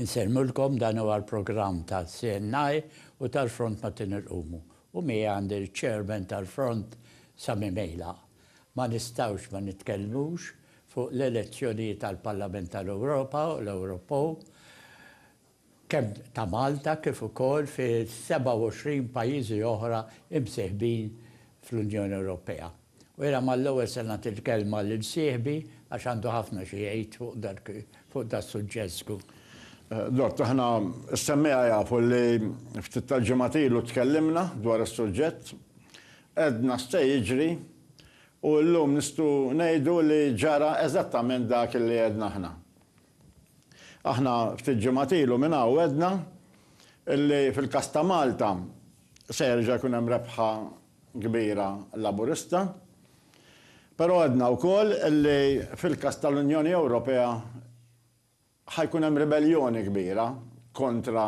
Insemmilkom dan huwa l-programm tal-CNI u tal-Front Mattin Irqumu u miegħi għandi l-Chairman tal-Front Sami Mejla. Ma nistgħux ma nitkellmux fuq l-elezzjonijiet għall-Parlament tal-Ewropa u l-Ewropew kemm ta' Malta kif ukoll fi 27 pajjiżi oħra imsieħbin fl-Unjoni Ewropea. U jiena mal-ewwel se nagħti l-kelma lil sieħbi għax għandu ħafna xi jgħid fuq dan is-suġġett żgur. Dott, aħna s-semmiegħa jafu li ftit tal-ġimgħat ilu tkellimna dwar is-suġġett, għedna x'se jiġri u llum nistgħu ngħidu li ġara eżattament dak li għedna aħna. Aħna ftit ġimgħat ilu minn hawn għedna li fil-każ ta' Malta se jerġa' jkun hemm rebħa kbira Laburista, però għedna wkoll li fil-każ tal-Unjoni Ewropea ħa jkun hemm ribelljoni kbira kontra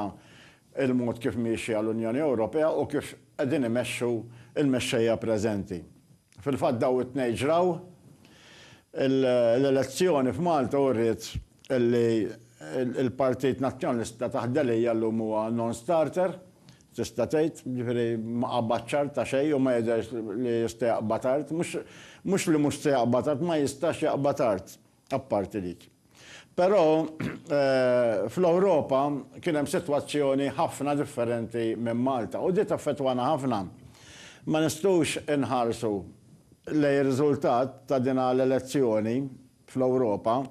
l-mod kif miexja l-Unjoni Ewropea u kif qegħdin imexxu l-mexxejja preżenti. Fil-fatt dawn it-tnejn ġraw. L-elezzjoni f'Malta uriet li l-Partit Nazzjonalista taħt Delia llum huwa non-starter, tista' tgħid, jiġifieri ma qabadx art ta' xejn u ma jidhirx li jista' jaqbad art. Mhux li mhux se jaqbad art, ma jistax jaqbad art. apparti dik. Però fl-Ewropa kien hemm sitwazzjoni ħafna differenti minn Malta u di taffettwana ħafna. Ma nistgħux inħarsu lejn ir-riżultat ta' dina l-elezzjoni fl-Ewropa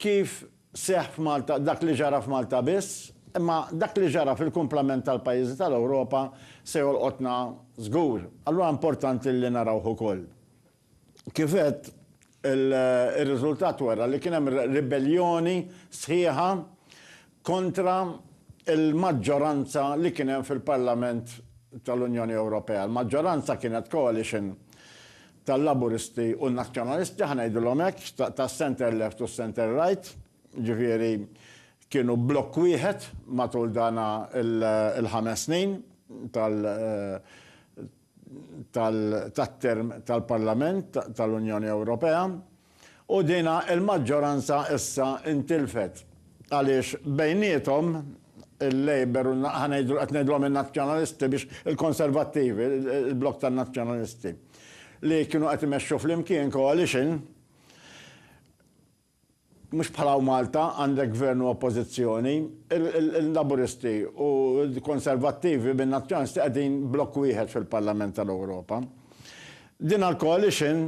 kif seħħ f'Malta, dak li ġara f'Malta biss, imma dak li ġara fil-kumplament tal-pajjiżi tal-Ewropa se jolqotna żgur. Allura importanti li narawh ukoll. Kif għedt, ir-riżultat wera li kien hemm ribelljoni sħiħa kontra l-maġġoranza li kien hemm fil-Parlament tal-Unjoni Ewropea. Il-maġġoranza kienet coalition tal-Laburisti u n-Nazzjonalisti, ħa ngħidilhom hekk, tas-centre left u s-centre right, jiġifieri kienu blokk wieħed matul dan il-ħames snin tat-term tal-Parlament tal-Unjoni Ewropea u din il-maġġoranza issa ntilfet għaliex bejniethom il-Labour u ħa ngħidu qed ngħidulhom in-Nazzjonalisti biex il-Konservattivi, il-blokk tan-Nazzjonalisti li kienu qed imexxu flimkien coalition, Mhux bħala u Malta għandek Gvern u Oppożizzjoni. Il-Laburisti u l-Konservattivi minn Nazzjonalisti qegħdin blokk wieħed fil-Parlament tal-Ewropa. Din għall-Coalition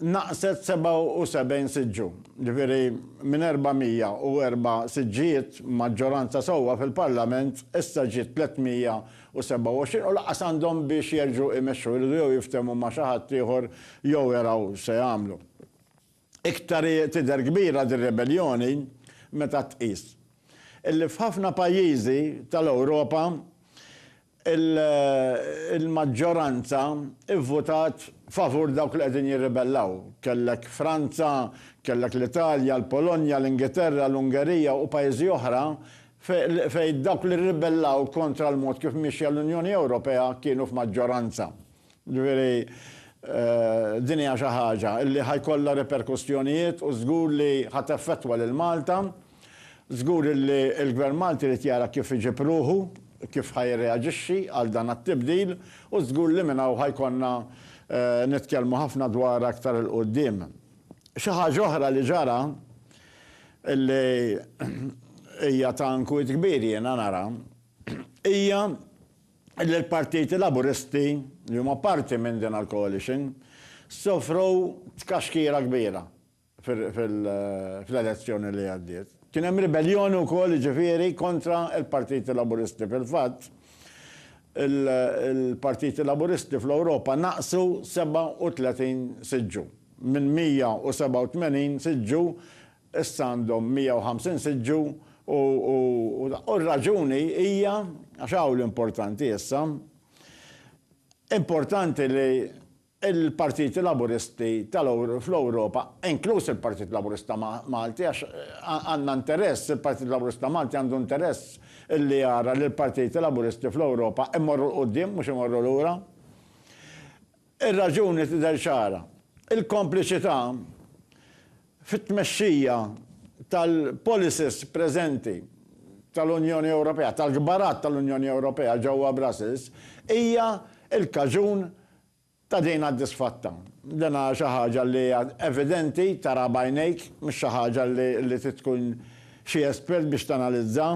naqqset 77 siġġu, ġifieri minn 404 siġġijiet, maġġoranza sewwa fil-Parlament, issa ġiet 327 u lanqas għandhom biex jerġgħu jmexxu, iridu jew jiftehmu ma' xi ħadd ieħor jew jaraw x'se jagħmlu. Iktar hi tidher kbira dir-rebelljoni meta tqis illi f'ħafna pajjiżi tal-Ewropa l-maġġoranza vvutat favur dawk li qegħdin jirribellaw. Kellek Franza, kellek l-Italja, l-Polonja, l-Ingilterra, l-Ungerija u pajjiżi oħra fejn dawk li rribellaw kontra l-mod kif miexja l-Unjoni Ewropea kienu f'maġġoranza. Jiġifieri, din hija xi ħaġa li ħa jkollha riperkussjonijiet u żgur li ħa teffettwa lil Malta. Żgur li l-Gvern Malti jrid jara kif iġib ruħu, kif ħa jirreaġixxi għal dan għat-tibdil u żgur li minn hawn ħa jkollna nitkellmu ħafna dwarha aktar 'il quddiem. Xi ħaġa oħra li ġara li hija ta' inkwiet kbir jiena nara hija l-partiti Laburisti li huma parti minn din il-coalition sofru tkaxkira kbira fl-elezzjoni li għaddiet. Kien hemm ribelljoni wkoll jiġifieri kontra l-partiti Laburisti. Fil-fatt, il-partiti Laburisti fl-Ewropa naqsu 37 siġġu, minn 187 siġġu Issa għandhom 150 siġġu u u r-raġuni hija, għax hawn l-importanti issa, importanti li l-partiti Laburisti fl-Ewropa, inkluż il-Partit Laburista Malti, għax għandna interess, il-Partit Laburista Malti għandu interess li jara li l-partiti Laburisti fl-Ewropa jmorru 'l quddiem mhux imorru lura. Ir-raġuni tidher ċara, il-kompliċità fit-tmexxija tal-policies preżenti tal-Unjoni Ewropea, tal-kbarat tal-Unjoni Ewropea ġewwa Brussels, hija l-kaġun ta' din għad-disfatta. Din hija xi ħaġa li hija evidenti, taraha b'għajnejk, mhux xi ħaġa li trid tkun xi espert biex tanalizza.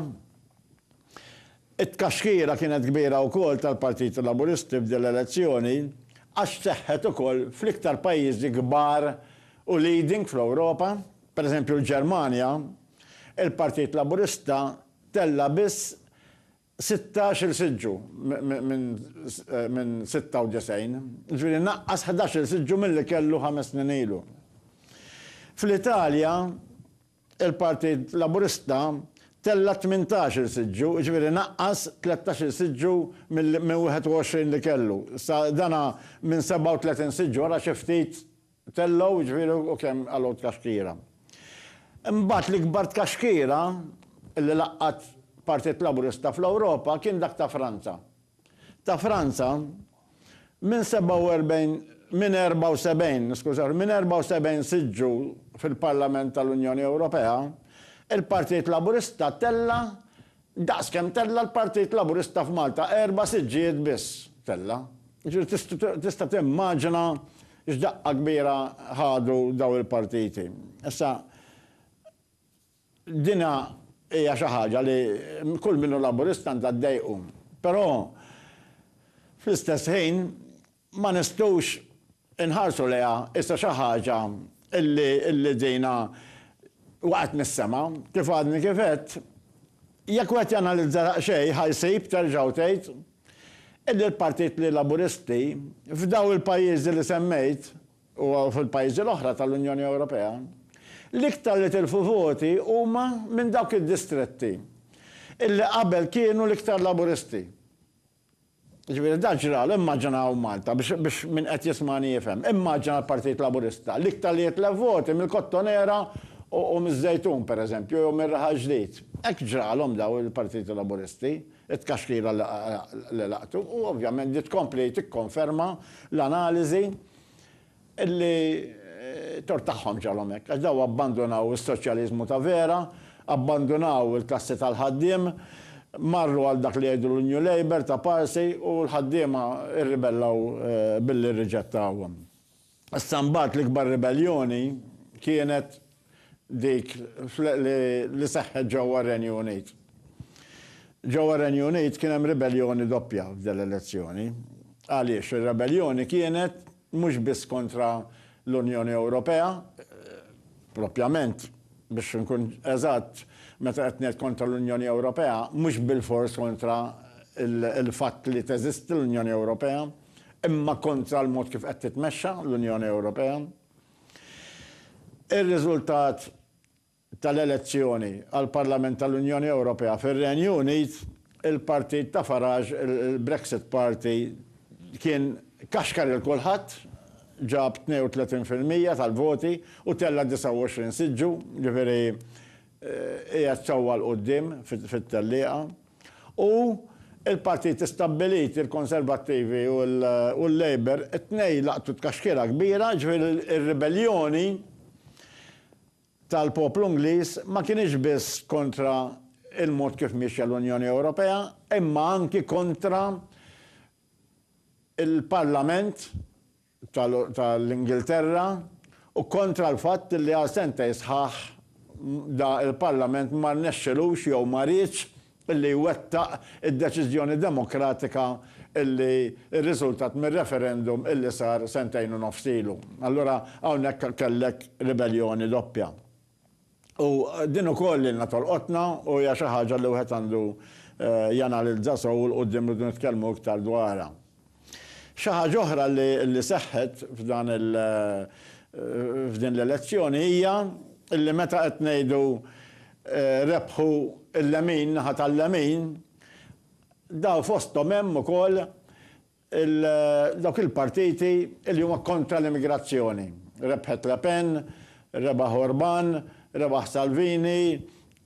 It-tkaxkira kienet kbira wkoll tal-Partit Laburisti f'din l-elezzjoni għax seħħet ukoll fl-iktar pajjiżi kbar u leading fl-Ewropa. Per eżempju l-Ġermanja, il-Partit Laburista tella' biss sittax-il siġġu minn sitta u disgħin, jiġifieri naqqas ħdax-il siġġu milli kellu ħames snin ilu. Fl-Italja Il-Partit Laburista tella' tmintax-il siġġu, jiġifieri naqqas tlettax-il siġġu minn 21 li kellu. Issa dan minn 37 siġġu ara xi ftit tellgħu, jiġifieri u kemm għalgħu tkaxkira. Imbagħad l-ikbar tkaxkira li laqqgħet Partit Laburista fl-Ewropa kien dak ta' Franza. ta' Franza minn 47 minn 74, skużawni, minn 74 siġġu fil-Parlament tal-Unjoni Ewropea, il-Partit Laburista tella' daqs kemm tella' l-Partit Laburista f'Malta, erba' siġġijiet biss tella'. Jiġifieri tista' timmaġina x'daqqa kbira ħadu dawn il-partiti. Issa, Din hija xi ħaġa li kull min hu Laburista għandha ddejqu. Però fl-istess ħin ma nistgħux inħarsu lejha issa xi ħaġa li dina waqgħet mis-sema. Kif għadni kif għedt, jekk wieħed janalizza daqsxejn ħa jsib, terġa' u tgħid, illi l-Partit li Laburisti f'daw il-pajjiżi li semmejt u fil-pajjiżi l-oħra tal-Unjoni Ewropea, l-iktar li tilfu voti huma minn dawk id-distretti illi qabel kienu l-iktar Laburisti. Jiġifieri dan ġralu, immaġinaw Malta, biex biex min qed jismagħni jifhem, immaġina l-Partit Laburista, l-iktar li jitlef voti mill-Kottonera u u miż-Żejtun, pereżempju, jew mir-Raħal Ġdid. Hekk ġralhom dawn il-Partiti Laburisti, it-tkaxkira li li laqtu, u ovvjament din tkompli tikkonferma l-analiżi li t-tort tagħhom ġarhom hekk, għax dawn abbandunaw is-soċjaliżmu ta' vera, abbandunaw il-klassi tal-ħaddiem, marru għal dak li jgħidu l-New Labour ta' Parsi u l-ħaddiema rribellaw billi rriġettawhom. Issa mbagħad l-ikbar ribelljoni kienet dik li seħħet ġewwa r-Renju Unit. Ġewwa r-Renju Unit kien hemm ribelljoni doppja f'din l-elezzjoni. Għaliex? Ir-rebelljoni kienet mhux biss kontra l-Unjoni Ewropea, propjament, biex inkun eżatt, meta qed ngħid kontra l-Unjoni Ewropea, mhux bilfors kontra l-fatt li teżisti l-Unjoni Ewropea, imma kontra l-mod kif qed titmexxa l-Unjoni Ewropea. Ir-riżultat tal-elezzjoni għall-Parlament tal-Unjoni Ewropea fir-Renju Unit, il-partit ta' Farage, il-Brexit Party, kien kaxkar lil kulħadd, ġab 32 fil-mija tal-voti u tella' 29 siġġu, jiġifieri qiegħed sewwa 'l quddiem fit-tellieqa. U l-partiti stabbiliti, il-Konservattivi u l-Labour, it-tnejn laqtu tkaxkira kbira, ġifieri r-ribelljoni tal-poplu Ingliż ma kinitx biss kontra l-mod kif miexja l-Unjoni Ewropea, imma anki kontra l-Parlament, tal-Ingilterra u kontra l-fatt li għal sentejn sħaħ da l-Parlament ma rnexxilux jew ma riedx li jwettaq id-deċiżjoni demokratika li rriżultat mir-referendum li sar sentejn u nofs ilu. Allura hawnhekk kellek ribelljoni doppja. U din ukoll ilna tolqotna u hija xi ħaġa li wieħed għandu janalizza sew 'l quddiem irridu nitkellmu iktar dwarha. Xi ħaġa oħra li seħħet f'dan il f'din l-elezzjoni hija li meta qed ngħidu rebħu l-lemin, naħa tal-lemin, daw fosthom hemm ukoll Dawk il-partiti li huma kontra l-immigrazzjoni. Rebħet Le Pen, rebaħ Orban, rebaħ Salvini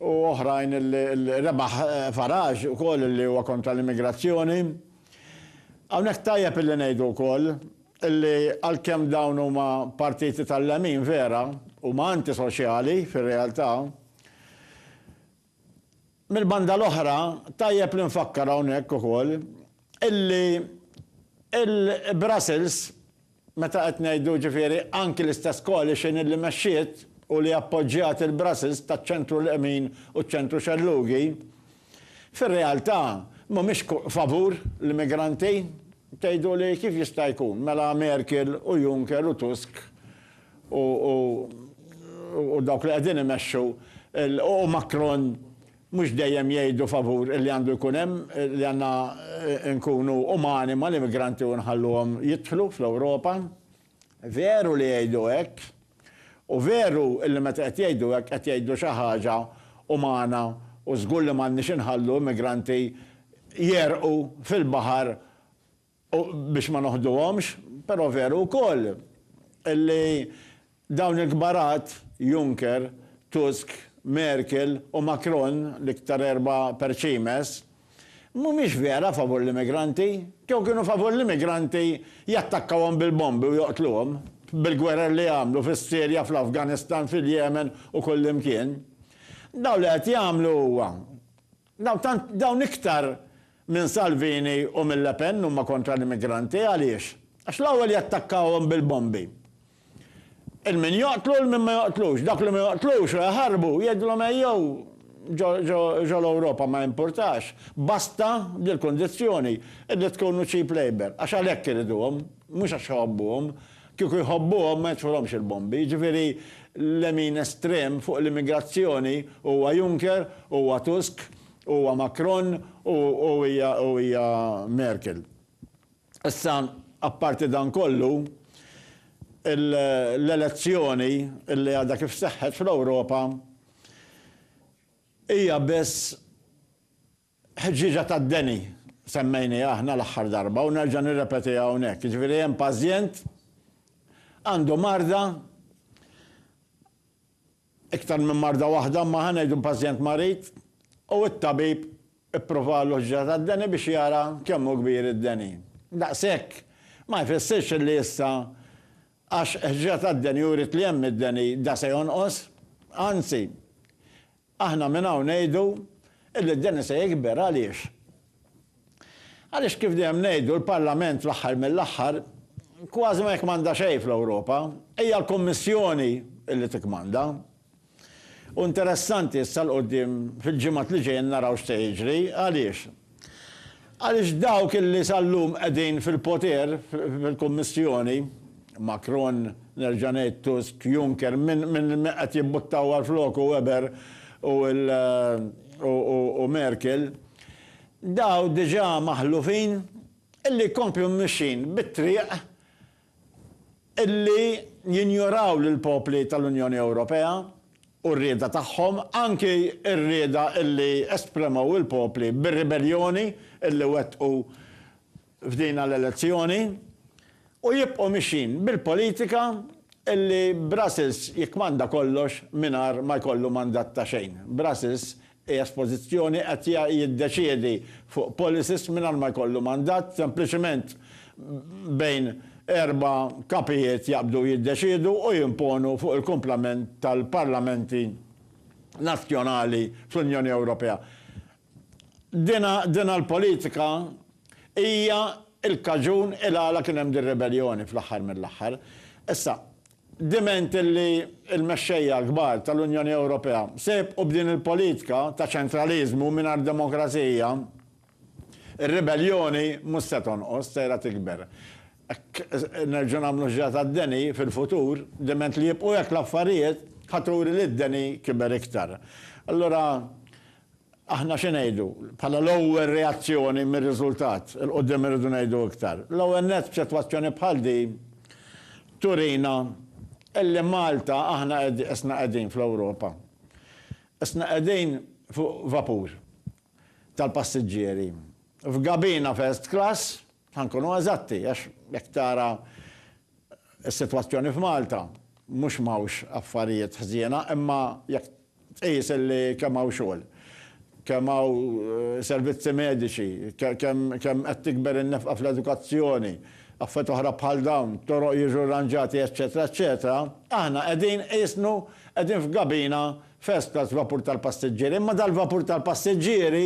u oħrajn li, rebaħ Farage ukoll li huwa kontra l-immigrazzjoni. Hawnhekk tajjeb illi ngħidu wkoll illi għalkemm dawn huma partiti tal-lemin vera, huma antisoċjali fir-realtà. Mill-banda l-oħra, tajjeb li nfakkar hawnhekk ukoll illi il-Brussels, meta qed ngħidu jiġifieri anki l-istess coalition illi mexxiet u li appoġġjat il-Brussels taċ-ċentru lemin u ċ-ċentru xellugi, fir-realtà mhumiex favur l-immigranti. Tgħiduli kif jista' jkun? Mela Merkel u Juncker u Tusk u dawk li qegħdin imexxu u Macron mhux dejjem jgħidu favur li għandu jkun hemm, li għandna nkunu umani mal-immigranti u nħalluhom jidħlu fl-Ewropa? Veru li jgħidu hekk. U veru li meta qed jgħidu hekk qed jgħidu xi ħaġa umana u żgur li m'għandniex inħallu immigranti jegħrqu fil-baħar u biex ma noħduhomx, però veru wkoll li dawn il-kbarat, Juncker, Tusk, Merkel u Macron, l-iktar erba' perċimes, Mhumiex vera favur l-immigranti. Kieku kienu favur l-immigranti jattakkawhom bil-bombi u joqtluhom, bil-gwerer li għamlu fis-Sirja, fl-Afganistan, fil-Yemen u kullimkien. Dawn li qed jagħmlu huwa. Dawn tant, dawn iktar minn Salvini u minn Le Pen huma kontra l-immigranti. Għaliex? Għax l-ewwel jattakkawhom bil-bombi. 'il min joqtlu 'il min ma joqtlux. Dawk li ma joqtlux u jaħarbu jgħidilhom ejjew ġo l-Ewropa ma jimpurtax, basta bil-kundizzjoni illi tkunu cheap labour, għax għalhekk iriduhom, mhux għax iħobbuhom. Kieku jħobbuhom ma jitfulhomx il-bombi. Jiġifieri lemin estrem fuq l-immigrazzjoni huwa Juncker, huwa Tusk, huwa Macron u hija Merkel. Issa, apparti dan kollu, l-elezzjoni li għadha kif seħħet fl-Ewropa hija biss ħġieġa tad-deni, semmejniha aħna l-aħħar darba u nerġa' nirrepetiha hawnhekk, jiġifieri hemm pażjent għandu marda, Iktar minn marda waħda, imma ħa ngħidu pazjent marid, u t-tabib ippruvalu ħġra tad-deni biex jara kemm hu kbir id-deni. Daqshekk ma jfissirx li issa għax ħġra tad-deni uriet li hemm id-deni da se jonqos. Anzi, aħna minn hawn ngħidu illi d-deni se jikber. Għaliex? Għaliex kif dejjem ngħidu l-Parlament fl-aħħar mill-aħħar kważi ma jikkmanda xejn fl-Ewropa, hija l-Kummissjoni li tikkmanda. U interessanti issa 'l quddiem fil-ġimgħat li ġejjin naraw x'se jiġri. Għaliex? Għaliex dawk li sal-lum qegħdin fil-poter fil-Kummissjoni, Macron, nerġa' ngħid Tusk, Juncker, min qed jimbuttaw għal floku Weber u Merkel, Dawn diġà maħlufin illi jkomplu mixjin bit-triq illi jinjoraw lill-popli tal-Unjoni Ewropea u r-rieda tagħhom, anki r-rieda illi espremew il-popli bir-ribelljoni illi wettqu f'dina l-elezzjoni u jibqgħu mixjin bil-politika li Brussels jikkmanda kollox mingħajr ma jkollu mandat ta' xejn. Brussels qiegħed f'pożizzjoni qed jiddeċiedi fuq policies mingħajr ma jkollu mandat, sempliċement bejn erba' kapijiet jaqbdu jiddeċiedu u jimponu fuq il-kumplament tal-parlamenti nazzjonali fl-Unjoni Ewropea. Dinha l-politika hija l-kaġun il-għala kien hemm dir-ribeljoni fl-aħħar mill-aħħar. Issa, diment illi l-mexxejja l-kbar tal-Unjoni Ewropea se jibqgħu b'din il-politika ta' ċentraliżmu mingħajr demokrazija, ir-ribeljoni mhux se tonqos, sejra tikber. Hekk nerġgħu nagħmlu ġra tad-deni fil-futur, diment li jibqgħu hekk l-affarijiet, ħa turi li d-deni kiber iktar. Allura, Aħna xi ngħidu, bħala l-ewwel reazzjoni mir-riżultat, 'il quddiem irridu ngħidu iktar. L-ewwel nett f'sitwazzjoni bħal din turina illi Malta aħna isna qegħdin fl-Ewropa. Isna qegħdin fuq vapur tal-passiġġieri, f'gabina first class, Ħa nkunu eżatti, għax jekk tara s-sitwazzjoni f'Malta, mhux m'hawnx affarijiet ħżiena, imma jekk tqis li kemm hawn xogħol, kemm hawn servizzi mediċi, kemm qed tikber in-nefqa fl-edukazzjoni, affarijiet oħra bħal dawn, toroq jiġu rranġati eċċetera eċċetera, aħna qegħdin qisnu qegħdin f'gabina first class vapur tal-passiġġieri, imma dal-vapur tal-passiġġieri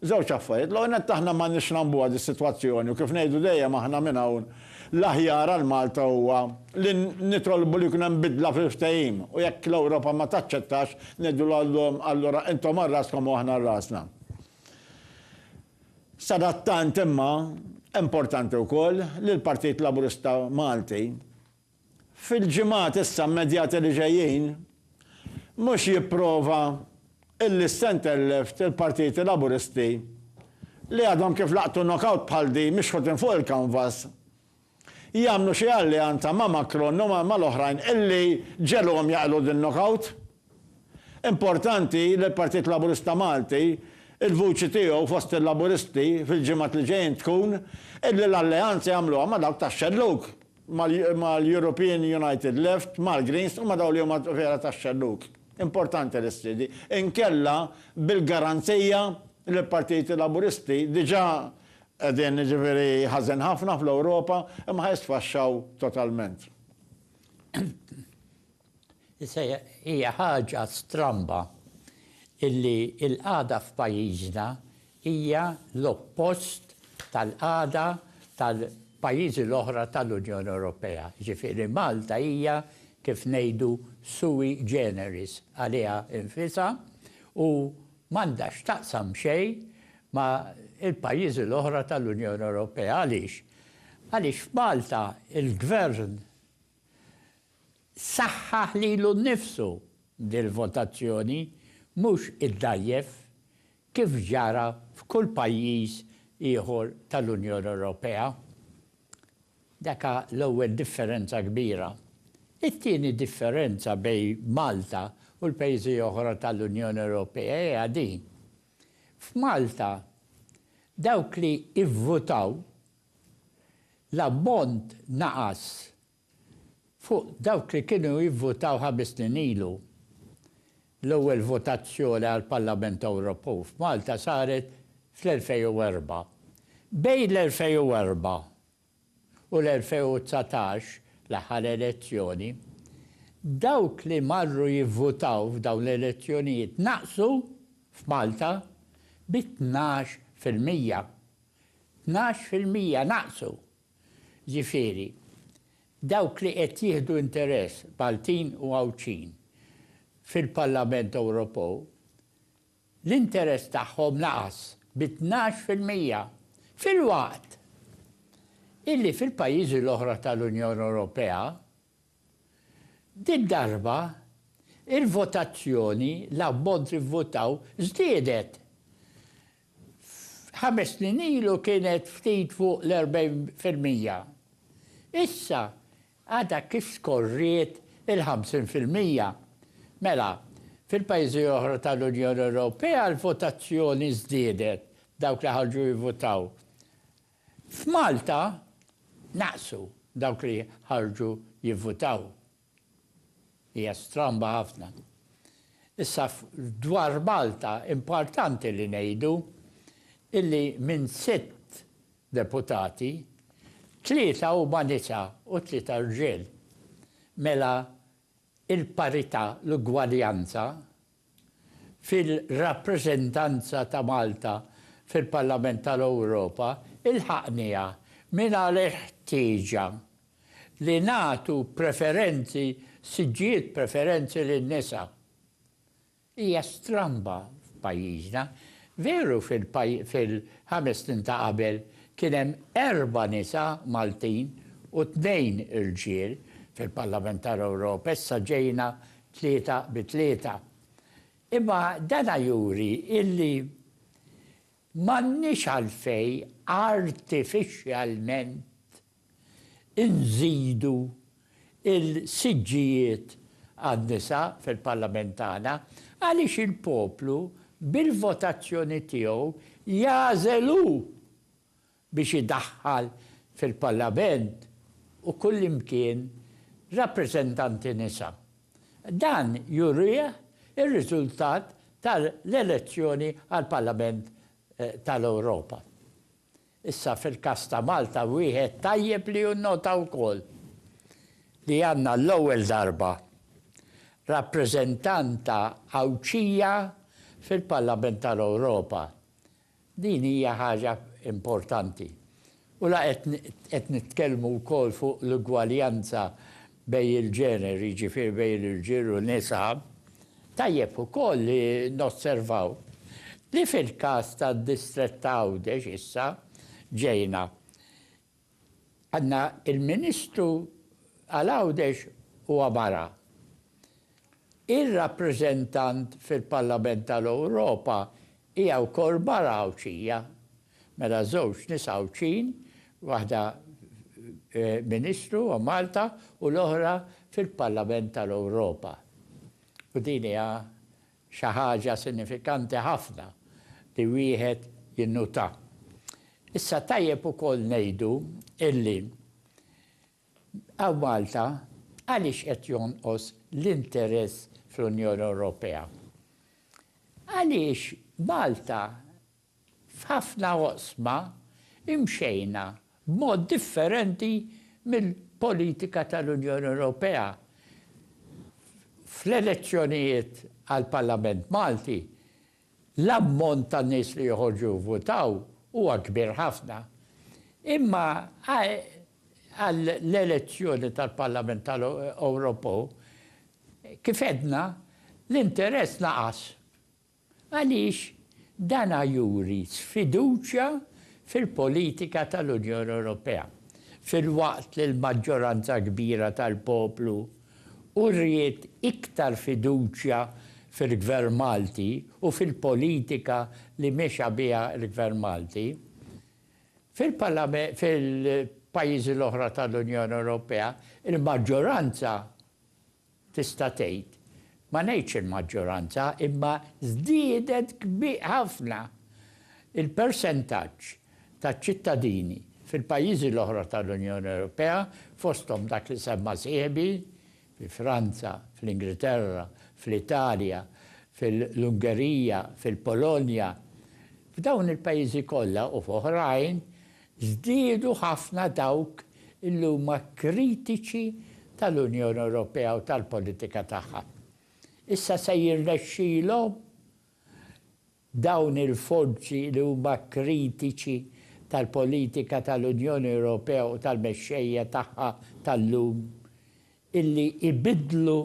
Żewġ affarijiet, l-ewwel nett aħna m'għandniex nagħmbuha dis-sitwazzjoni u kif ngħidu dejjem aħna minn hawn, l-aħjar għal Malta huwa li nitolbu li jkun hemm bidla fil-ftehim u jekk l-Ewropa ma taċċettax, ngħidu lhom allura intom għal raskom u aħna għal rasna. Sadattant imma, importanti wkoll li l-Partit Laburista Malti, fil-ġimgħat issa immedjati li ġejjin, mhux jipprova illi s-centre left, il-partiti Laburisti, li għadhom kif laqtu knock-out bħal din mixħutin fuq il-canvas, jagħmlu xi alleanza ma' Macron u mal-oħrajn illi ġegħluhom jaqilgħu din knock-out. Importanti li l-Partit Laburista Malti, il-vuċi tiegħu fost il-Laburisti fil-ġimgħat li ġejjin tkun illi l-alleanza jagħmluha ma' dawk tax-xellug. mal-European United Left, mal-Greens u ma' dawk li huma vera tax-xellug. Importanti li ssir din. Inkella bil-garanzija li l-partiti Laburisti diġà qegħdin jiġifieri ħażin ħafna fl-Ewropa imma ħa jisfaxxaw totalment. Issa hija ħaġa stramba illi l-qagħda f'pajjiżna hija l-oppost tal-qagħda tal-pajjiżi l-oħra tal-Unjoni Ewropea. Jiġifieri Malta hija kif ngħidu sui generis għaliha nfisha u m'għandha x'taqsam xejn ma' l-pajjiżi l-oħra tal-Unjoni Ewropea. Għaliex? Għaliex f'Malta l-Gvern Saħħaħ lilu nnifsu dil-votazzjoni, mhux iddgħajjef, kif ġara f'kull pajjiż ieħor tal-Unjoni Ewropea. Daka l-ewwel differenza kbira. It-tieni differenza bejn Malta u l-pajjiżi oħra tal-Unjoni Ewropea hija din, f'Malta dawk li ivvutaw l-ammont naqas Fuq dawk li kienu jivvutaw ħames snin ilu, l-ewwel votazzjoni għall-Parlament Ewropew f'Malta saret fl-2004. Bejn l-2004 u l-2019, l-aħħar elezzjoni, dawk li marru jivvutaw f'dawn l-elezzjonijiet naqsu f'Malta bi tnax fil-mija. Tnax fil-mija naqsu! Ġifieri, dawk li qed jieħdu interess, Maltin u Għawdxin, fil-Parlament Ewropew, l-interess tagħhom naqas bi tnax fil-mija, filwaqt illi fil-pajjiżi l-oħra tal-Unjoni Ewropea, did-darba, il-votazzjoni, l-ammont li vvotaw, żdiedet Ħames snin ilu kienet ftit fuq l-40 fil-mija. Issa għadha kif skorriet il-50 fil-mija. Mela, fil-pajjiżi oħra tal-Unjoni Ewropea l-votazzjoni żdiedet, dawk li ħarġu jivvutaw. F'Malta naqsu dawk li ħarġu jivvutaw. Hija stramba ħafna. Issa dwar Malta importanti li ngħidu illi minn sitt deputati, tlieta huma nisa u tlieta rġiel. Mela il-parità, l-ugwaljanza, fil-rappreżentanza ta' Malta fil-Parlament tal-Ewropa ilħaqniha mingħajr il-ħtieġa li nagħtu preferenzi, siġġijiet preferenzi lin-nisa. Hija stramba f'pajjiżna. Veru fil-ħames snin ta' qabel kien hemm erba' nisa Maltin u tnejn irġiel fil-Parlament tal-Ewropa, issa ġejna tlieta bi tlieta. Imma dana juri illi m'għandniex għalfejn artifixxjalment inżidu l-siġġijiet għan-nisa fil-Parlament tagħna għaliex il-poplu bil-votazzjoni tiegħu jagħżel hu biex idaħħal fil-Parlament u kullimkien rappreżentanti nisa. Dan jurih ir-riżultat tal-elezzjoni għall-Parlament tal-Ewropa. Issa fil-każ ta' Malta wieħed tajjeb li jinnota wkoll li għandna għall-ewwel darba rappreżentanta Għawdxija fil-Parlament tal-Ewropa. Din hija ħaġa importanti. U la qed nitkellmu wkoll fuq l-ugwaljanza bejn il-ġeneri, jiġifieri bejn irġiel u nisa, tajjeb ukoll li nosservaw li fil-każ tad-distrett ta' Għawdex issa ġejna Għandna il-Ministru għal Għawdex huwa mara. Ir-rappreżentant fil-Parlament tal-Ewropa hija wkoll mara Għawdxija. Mela żewġ nisa Għawdxin, waħda Ministru għal Malta u l-oħra fil-Parlament tal-Ewropa. U din hija Xi ħaġa sinifikanti ħafna li wieħed jinnota. Issa tajjeb ukoll ngħidu illi hawn Malta għaliex qed jonqos l-interess fl-Unjoni Ewropea? Għaliex Malta F'ħafna oqsma imxejna b'mod differenti mill-politika tal-Unjoni Ewropea. Fl-elezzjonijiet għall-Parlament Malti, l-ammont ta' nies li joħorġu jivvutaw huwa kbir ħafna. Imma għall-elezzjoni tal-Parlament Ewropew, kif għedna, l-interess naqas. għaliex dan juri sfiduċja fil-politika tal-Unjoni Ewropea, filwaqt li l-maġġoranza kbira tal-poplu uriet iktar fiduċja fil-Gvern Malti u fil-politika li mexa biha l-Gvern Malti fil-pajjiżi l-oħra tal-Unjoni Ewropea, il-maġġoranza tista' tgħid, ma ngħidx il-maġġoranza, imma żdiedet kbir ħafna il-persentaġġ taċ-ċittadini fil-pajjiżi l-oħra tal-Unjoni Ewropea, fosthom dak li semma sieħbi, fi Franza, fl-Ingilterra, fl-Italja, fil-Ungerija, fil-Polonja. F'dawn il-pajjiżi kollha u f'oħrajn, Żdiedu ħafna dawk li huma kritiċi tal-Unjoni Ewropea u tal-politika tagħha. Issa se jirnexxilhom dawn il-forzi li huma kritiċi tal-politika tal-Unjoni Ewropea u tal-mexxejja tagħha tal-lum illi jbiddlu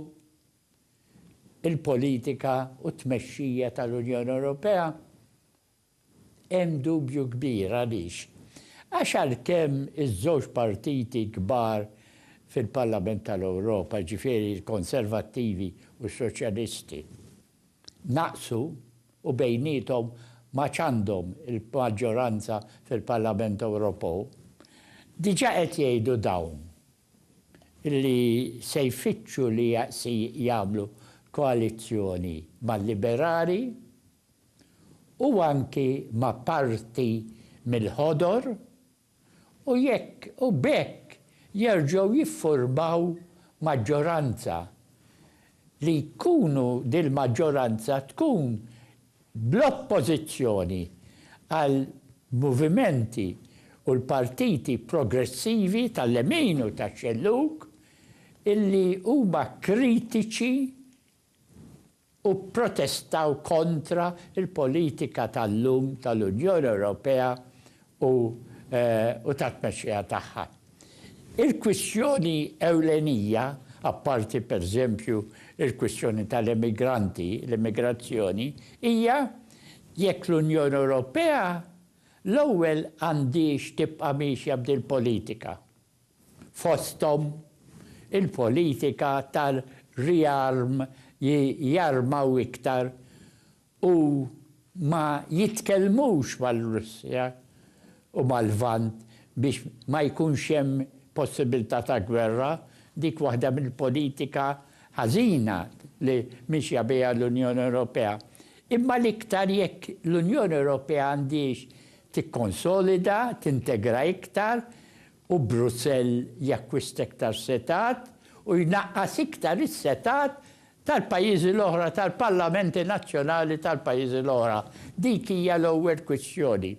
l-politika u t-tmexxija tal-Unjoni Ewropea Hemm dubju kbir, għaliex? Għax għalkemm iż-żewġ partiti kbar fil-Parlament tal-Ewropa, jiġifieri l-Konservattivi u s-Soċjalisti, naqsu u bejniethom m'għadx għandhom il-maġġoranza fil-Parlament Ewropew, diġà qed jgħidu dawn li se jfittxu li jagħmlu koalizzjoni mal-Liberali, u anki ma' parti mill-Ħodor u jekk u b'hekk jerġgħu jiffurmaw maġġoranza li jkunu dil-maġġoranza tkun bl-oppożizzjoni għal movimenti u l-partiti progressivi tal-lemin u tax-xellug illi huma kritiċi u pprotestaw kontra l-politika tal-lum tal-Unjoni Ewropea u tat-tmexxija tagħha. Il-kwistjoni ewlenija, apparti pereżempju l-kwistjoni tal-emigranti, l-immigrazzjoni, hija jekk l-Unjoni Ewropea l-ewwel għandhiex tibqa' miexja b'dil-politika. fosthom il-politika tar-riarm li jarmaw iktar u ma jitkellmux mar-Russja u mal-Lvant biex ma jkunx hemm possibilità ta' gwerra, dik waħda mill-politika ħażina li mixja biha l-Unjoni Ewropea. Imma l-iktar jekk l-Unjoni Ewropea għandhiex tikkonsolida, tintegra iktar u Brussell jakkwista iktar setgħat u jnaqqas iktar is-setgħat tal-pajjiżi l-oħra, tal-parlamenti nazzjonali tal-pajjiżi l-oħra. Dik hija l-ewwel kwistjoni.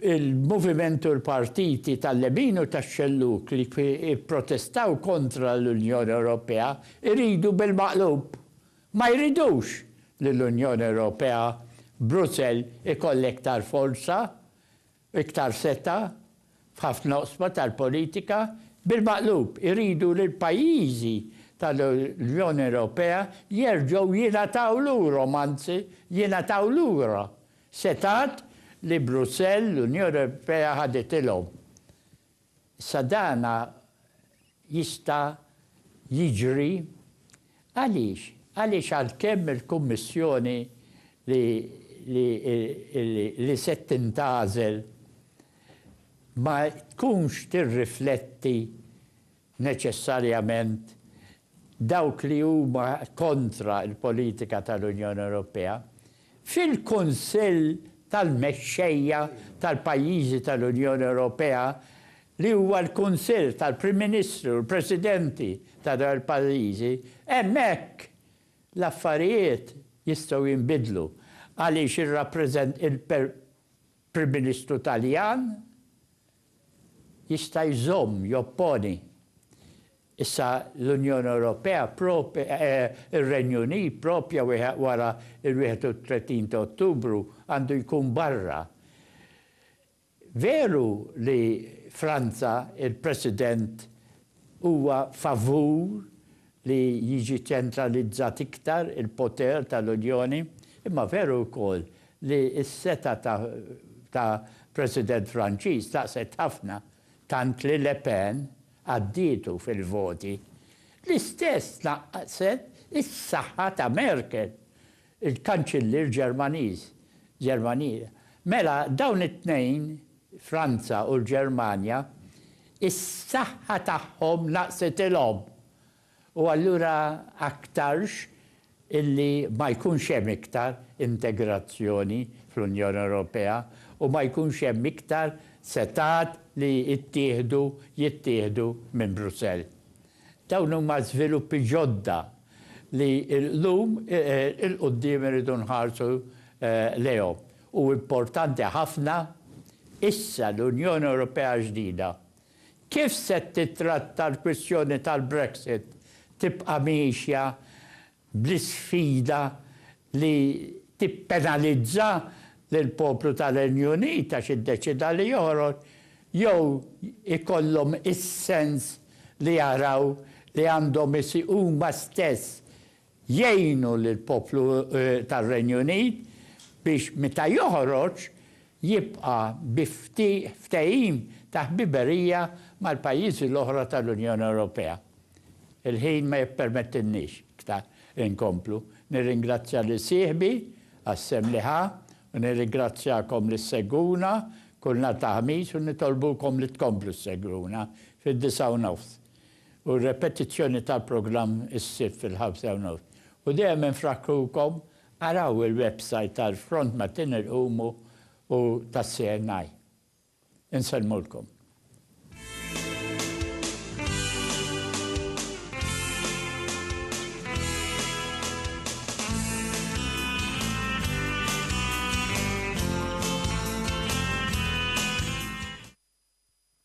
Il-moviment u l-partiti tal-lemin u tax-xellug li pprotestaw kontra l-Unjoni Ewropea jridu bil-maqlub Ma jridux li l-Unjoni Ewropea, Brussell ikollha iktar forza, iktar setgħa f'ħafna oqsma tal-politika, bil-maqlub iridu li l-pajjiżi tal-Unjoni Ewropea jerġgħu jingħataw lurhom, anzi jingħataw lura, setgħat li Brussell, l-Unjoni Ewropea ħaditilhom. Issa dan jista' jiġri għaliex? Għaliex għalkemm il-Kummissjoni li se tintgħażel ma tkunx tirrifletti neċessarjament dawk li huma kontra l-politika tal-Unjoni Ewropea, fil-Kunsill tal-Mexxejja tal-pajjiżi tal-Unjoni Ewropea li huwa l-Kunsill tal-Prim Ministri u l-Presidenti ta' dawn il-pajjiżi, hemmhekk l-affarijiet jistgħu jinbidlu għaliex il-Prim Ministru Taljan Jista' jżomm, jopponi. Issa l-Unjoni Ewropea prop, ir-Renju Unit proprja wara l-31 ta' Ottubru għandu jkun barra. Veru li Franza, il-President huwa favur li jiġi ċentralizzat iktar il-poter tal-Unjoni, imma veru wkoll li s-setgħa ta' ta' President Franċiż tnaqqset ħafna, tant li Le Pen għaddietu fil-voti. L-istess tnaqqset is-saħħa ta' Merkel, il-Kanċillier Ġermaniż, Ġermanier. Mela, dawn it-tnejn, Franza u l-Ġermanja, is-saħħa tagħhom naqsitilhom. U allura aktarx illi ma jkunx hemm iktar integrazzjoni fl-Unjoni Ewropea u ma jkunx hemm iktar setgħat li jittieħdu jittieħdu minn Brussell. Dawn huma żviluppi ġodda li llum 'il quddiem irridu nħarsu lejhom. U importanti ħafna, issa l-Unjoni Ewropea ġdida, kif se tittratta l-kwistjoni tal-Brexit? Tibqa' miexja bl-isfida li tippenalizza lill-poplu tar-Renju Unit għax iddeċieda li joħroġ, jew ikollhom is-sens li jaraw li għandhom huma stess jgħinu lill-poplu tar-Renju Unit biex meta joħroġ jibqa' bi ftehim ta' ħbiberija mal-pajjiżi l-oħra tal-Unjoni Ewropea. Il-ħin ma jippermettilniex iktar inkomplu. Nirringrazzja lil sieħbi għas-sehem li ħa u nirrigrazzjakom li ssegwuna kull nhar ta' Ħamis u nitolbukom li tkomplu ssegwuna fid-disgħa u nofs. U r-repetizzjoni tal-programm is-Sibt fil-ħamsa u nofs. U dejjem infrakkrukom araw il-websajt tal-Front Matin Irqumu u tas-CNI. Insellmulkom.